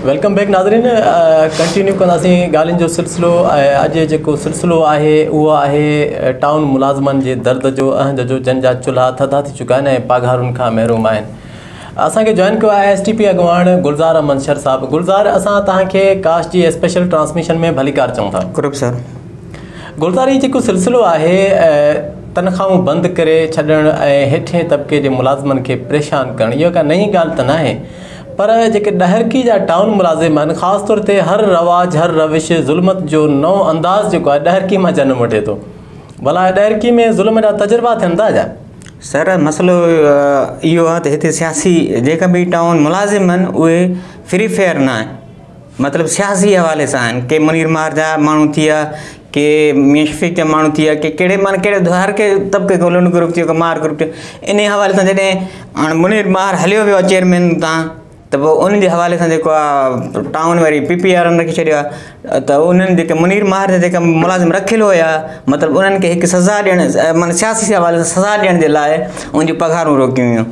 Welcome back ناظرين continue ڪنداسين ڳالهين جو سلسلو اڄ جيڪو سلسلو آهي اهو آهي ٽائون ملازمن جي درد جو اهنج جو جن جا چلها ٿڌا ٿي چڪا آهن ۽ پاگهارن کان محروم آهن اسان کي جوائن ڪيو آهي ايس ٽي پي اڳواڻ گلزار احمد شر صاحب گلزار اسان توهان کي ڪاش جي اسپيشل ٽرانسميشن ۾ ڀليڪار چون ٿا سر گلزاري جيڪو سلسلو آهي تنخواهون بند ڪري ڇڏڻ ۽ هيٺين طبقي جي ملازمن کي پريشان ڪرڻ اها ڪا نئين ڳالهه ته ناهي پر جيڪي ڏهرڪي جا ٽائون ملازم آهن خاص طور تي هر رواج هر روش ظلمت جو نئون انداز جيڪو آهي ڏهرڪي مان جنم وٺي ٿو ڀلا ڏهرڪي ۾ ظلم جا تجربا ٿين ٿا ڇا؟ سر مسئلو اهو آهي ته هتي سياسي جيڪا به ٽائون ملازم آهن اهي فري فيئر ناهن مطلب سياسي حوالي سان آهن ڪي منير مار جا ماڻهو ٿي ويا ڪي ميان شفيق جا ماڻهو ٿي ويا ڪي ڪهڙي معنيٰ ڪهڙي هر ڪي طبقي کي لنڊ گروپ ٿي ويو ڪو مار گروپ ٿي ويو انهي حوالي سان جڏهن هاڻي منير مار هليو ويو آهي چيئرمين تان ته پوء ان جي حوالي سان جيڪو آهي ٽائون وري پي پي وارن رکي ڇڏيو آهي ته انهن جيڪي منير مار جا جيڪا ملازم رکيل هيا مطلب انهن کي هڪ سزا ڏيڻ معنيٰ سياسي حوالي سان سزا ڏيڻ جي لاء ان جون پگهارون روڪيون ويون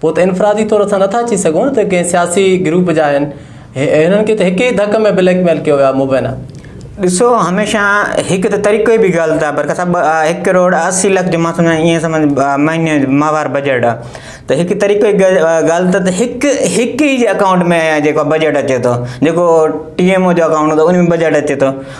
پوء ته انفرادي طور اسان نٿا چئي سگهون ته ڪنهن سياسي گروپ جا آهن. هنن کي ته هڪ ئي ڌڪ ۾ بليڪ ميل ڪيو ويو آهي مبينا. ڏسو هميشه هڪ ته طريقو ئي بگاڙيل ٿا پر سڀ هڪ ڪروڙ اسي لک جو مان سمجهان ائين سمجهه مهيني جو ماهوار بجيٽ آ ته هڪ طريقو ئي ڳالهه ته هڪ هڪ ئي جي اڪائونٽ ۾ جيڪو بجيٽ اچي ٿو جيڪو ٽي ايم او جو اڪائونٽ هوندو ان ۾ بجيٽ اچي ٿو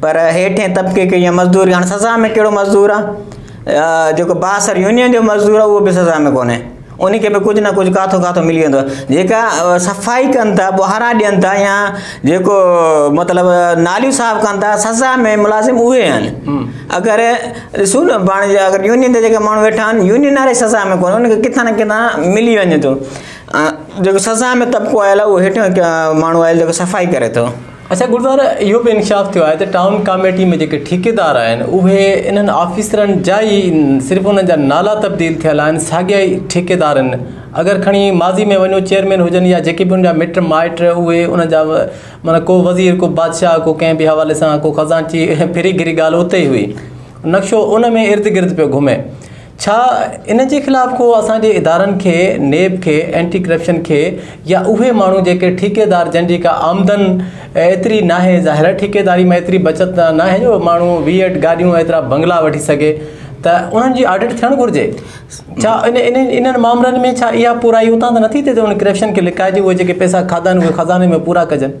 پر هيٺين طبقي کي جيئن مزدور هاڻي سزا ۾ ڪهڙو مزدور آ جيڪو بااثر يونين جو مزدور آ اهو به سزا ۾ ڪونهي ان کي به ڪجهه نه ڪجهه ڪاٿو ڪاٿو ملي ويندو آ جيڪا صفائي ڪن ٿا ٻهراڙا ڏين ٿا يا جيڪو مطلب ناليون صاف ڪن ٿا سزا ۾ ملازم اهي آهن اگر ڏسو نه پاڻ جي اگر يونين جا جيڪا ماڻهو ويٺا آهن يونين واري سزا ۾ ڪونهي ان کي ڪٿان نه ڪٿان ملي وڃي ٿو جيڪو سزا ۾ طبقو آيل آ اهو هيٺيون ماڻهو آهي جيڪو صفائي ڪري ٿو اچا گلزار اهو به انڪشاف ٿيو آهي ته ٽائون ڪاميٽي ۾ جيڪي ٺيڪيدار آهن اهي انهن آفيسرن جا ئي صرف انهن جا نالا تبديل ٿيل آهن ساڳيا ئي ٺيڪيدار آهن اگر کڻي ماضي ۾ وڃو چيئرمين هجن يا جيڪي به ان جا مٽ مائٽ اهي انهن جا معنيٰ ڪو وزير ڪو بادشاهه ڪو ڪنهن به حوالي سان ڪو خزانچي ڦري گهري ڳالهه اتي ئي هئي نقشو ان ۾ ارد گرد پيو گهمي ڇا ان جي خلاف ڪو اسان جي ادارن کي، نيب کي، اينٽي ڪرپشن کي يا اهي ماڻهو جيڪي ٺيڪيدار جن جي ڪا آمدن ايتري ناهي ظاهر ٺيڪيداري مان ايتري بچت ناهي جو ماڻهو ويهه گاڏيون ايترا بنگلا وٺي سگهي ته انهن جي آڊٽ ٿيڻ گهرجي ڇا انهن مامرن ۾ ڇا اها پورائي اتان ته نٿي ٿئي ته ان ڪرپشن کي لڪائجي اهي جيڪي پئسا کاڌا آهن اهي خزاني ۾ پورا ڪجن.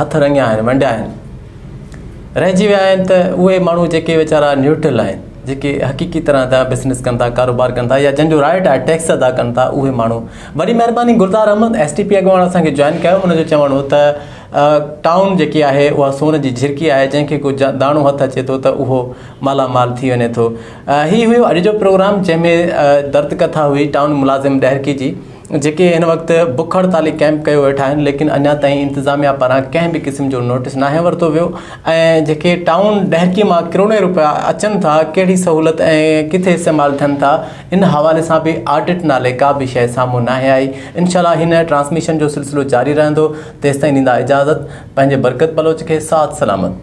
هٿ رڱيا آهن، ونڊيا آهن. رهجي ويا آهن ته اهي ماڻهو جيڪي ويچارا نيوٽرل آهن، جيڪي حقيقي طرح جا بزنس ڪن ٿا، ڪاروبار ڪن ٿا يا جن جو رائٽ آهي ٽيڪس ادا ڪن ٿا اهي ماڻهو. وڏي مهرباني Gulzar Ahmed S T P اڳواڻ اسان کي جوائن ڪيو ان جو چوڻ هو ته ٽائون جيڪي آهي اها سون جي جهرڪي آهي جنهن کي ڪو داڻو هٿ اچي ٿو ته اهو مالا مال ٿي وڃي ٿو. هي هيو اڄ جو پروگرام جنهن ۾ درد ڪٿا هئي ٽائون ملازم ڏهرڪي جي. جيڪي هن وقت بک هڙتالي ڪيمپ ڪيو ويٺا آهن ليڪن اڃا تائين انتظاميا پاران ڪنهن به قسم جو نوٽس ناهي ورتو ويو ۽ جيڪي ٽائون ڏهڪي مان ڪروڙين روپيا اچن ٿا ڪهڙي سهولت ۽ ڪٿي استعمال ٿين ٿا ان حوالي سان به آڊٽ نالي ڪا به شئي سامهون ناهي آئي انشاءالله هن ٽرانسميشن جو سلسلو جاري رهندو تيستائين ڏيندا اجازت پنهنجي برڪت بلوچ کي ساٿ سلامت.